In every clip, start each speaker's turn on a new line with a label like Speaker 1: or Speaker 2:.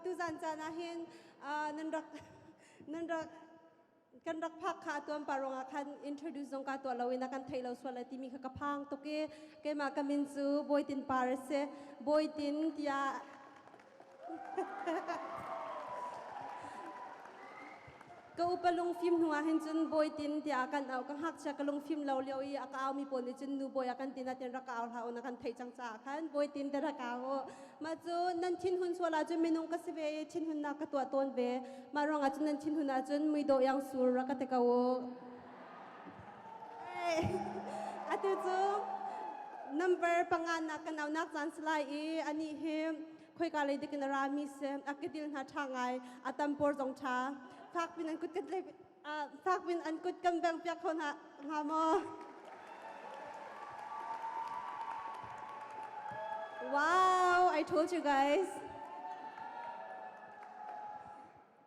Speaker 1: Tuzan caan ahhin nan rak nan rak kan rak phak kha atuan pa ruangah khan introduce zong ka tuah loin a kan thei lo sual a timi kha ka phang tuk i keimah ka min cu Bawitin par a si Bawitin tiah Ka upa lungfim hnuah hin cun Bawi Tin tiah a kan auh. Ka ngakchia ka lungfim lo lio i a ka aumi pawl nih cun Nu Bawi a kan ti natein rak ka au hlah u na kan theih cang caah khan Bawi Tin te rak au u. Mah cu nan thinhun sual ahcun minung ka si ve i thinhunnak ka tuah tawn ve. Mah ruangah cun nan thinhun ahcun muidawh yang sur rak ka ti ko u. Atu cu number panganak ka naunak caan si lai i anih hi khoika lei dikin ara mi se akidil hna tha ngai atampor zong tha fak bin an kut kan fak bin an kut kan beng piak kho na nga maw Wow, I told you guys.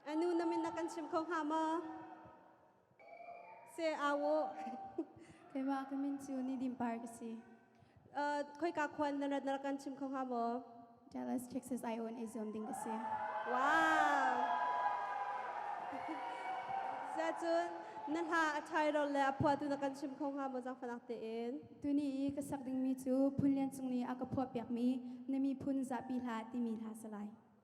Speaker 1: Anu namin na kan sim kho nga maw? Se awo. Keima ka min cu ni dim par ka si. Uh, khoi ka khuan narat narak kan chim kho nga maw? Dallas, Texas I own azom ding ka si. Wow. Secun na hla a chai rol le a phua tu na kan chim kho nga maw jang fanak te in. Tuni i ka sak dingmi cu phun lian cung ni a ka phua piak mi na mi phun zapi hla timi hla salai.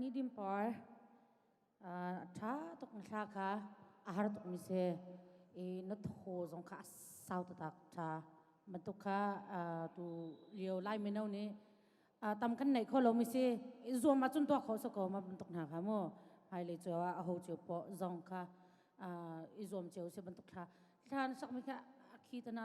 Speaker 1: nidim por tha tuk mi thla kha a har tuk mi se i na tho zong kha a sau tatak tha matuk kha tu lio lai mino nih tam kan nei kho lo mi si i zuam ah cun tuak kho so ko ma bantuk hna kha mu hai le cho a ho chiu po zong kha i zuam cheu se bantuk thla thlan sak mi kha akhi tana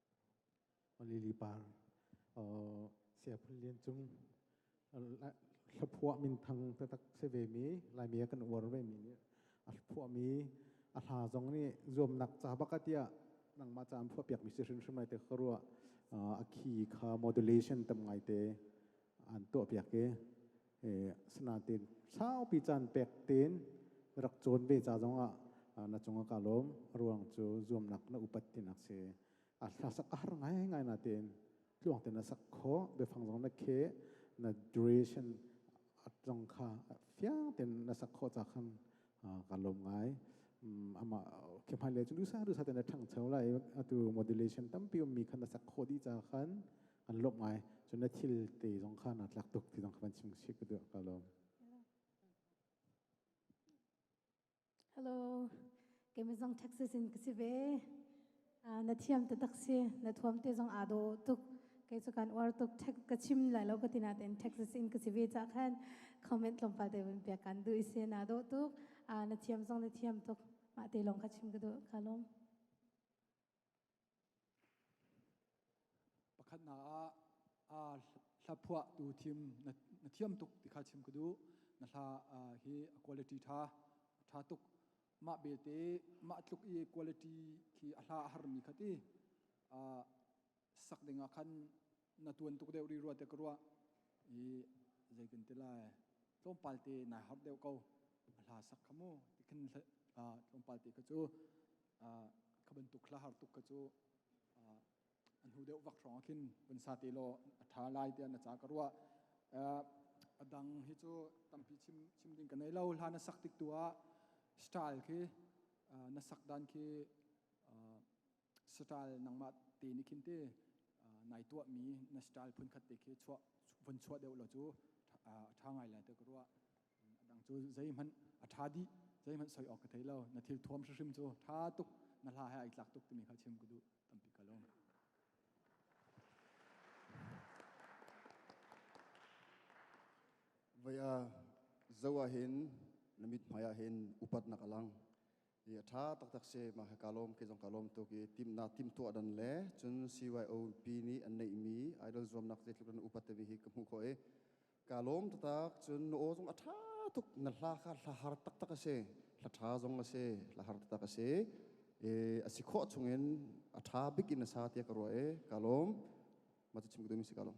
Speaker 1: Lili par Siaphun Lian Cung hlephuah min thang tatak se ve mi laimi kan uar ve mi nih a hlephuah mi a hla zong nih zuamnak ca baka tiah nangmah ca am phuah piak mi si hrimhrim ai te ka rua a khi kha modulation tam ngai te an tuah piak i sinatin saupi caan pek tin rak cawn ve ca zong ah na cungah ka lawm ruang cu zuamnak na upat tinak si a hlasak ar ngai ngai na tin tluang ten na sak kho biafang zong na khe na duration zong kha fiang ten na sak kho ca khan ka lawm ngai ama khimai le chu dusa dusa ten na thang chau lai atu modulation tampi um mi khan na sak kho di ca khan kan lawmh ai cu na thil te zong kha na tlak tuk ti zong kha van chim si ka duh ka lawm Hello Kemizong Texas in kasi ve na thiam te tak si na thuam te zong aa do tuk kei chu kan uar tuk tek ka chim lai lo ka tina ten Texas in kasi ve cha khan comment lom pa te bin pia kan du ise na do tuk a na thiam zong na thiam tuk ma te long kha chim ka du ka lom Pakhatnak ah aa hlaphuahtu thim na thiam tuk ti kha chim ka duh. Na hla hi a quality ṭha ṭha tuk. Mah belte mah tluk i quality khi a hla a harmi kha ti sak dingah khan na tuan tuk deuh ri rua te ka ruah i zeitin ti lai tlawmpal te nai harh deuh ko a hla sak kha mu tikhin tlawmpal te ka cu kha bantuk hla har tuk ka cu an hu deuh vak hrawng khin vun sa te law a ṭha lai tiah na ca ka ruah a dang hi cu tampi chim chim ding ka nei lo hla na sak tik tu ah style khi na sak dan khi satal nangmah te ni khin te nai tuah mi na satal phun khat te khi chuah vun chuah deuh lo cu tha ngai lai te ka ruah dang cu zei hmanh a tha di zei hmanh soi awk ka thei lo na thil thuam hrim cu tha tuk na hla he ai tlak tuk timi kha chim ka du tampi ka lawm vaya zawa hin namit maya hin upat nak alang Hi a tha taktak si mah ka lawm ke zong ka lawm tuk i timna timtuah dan le cun CYOP nih an neihmi idol zuamnak zeitluk in upat timi hi ka hmuh khawh i ka lawm taktak cun na aw zong a tha tuk na hla kha hla har taktak a si hla tha zong a si hla har taktak a si e a si khawh chungin a tha bik in a sa tiah ka ruah e ka lawm ma cu chim ku mi si ka lawm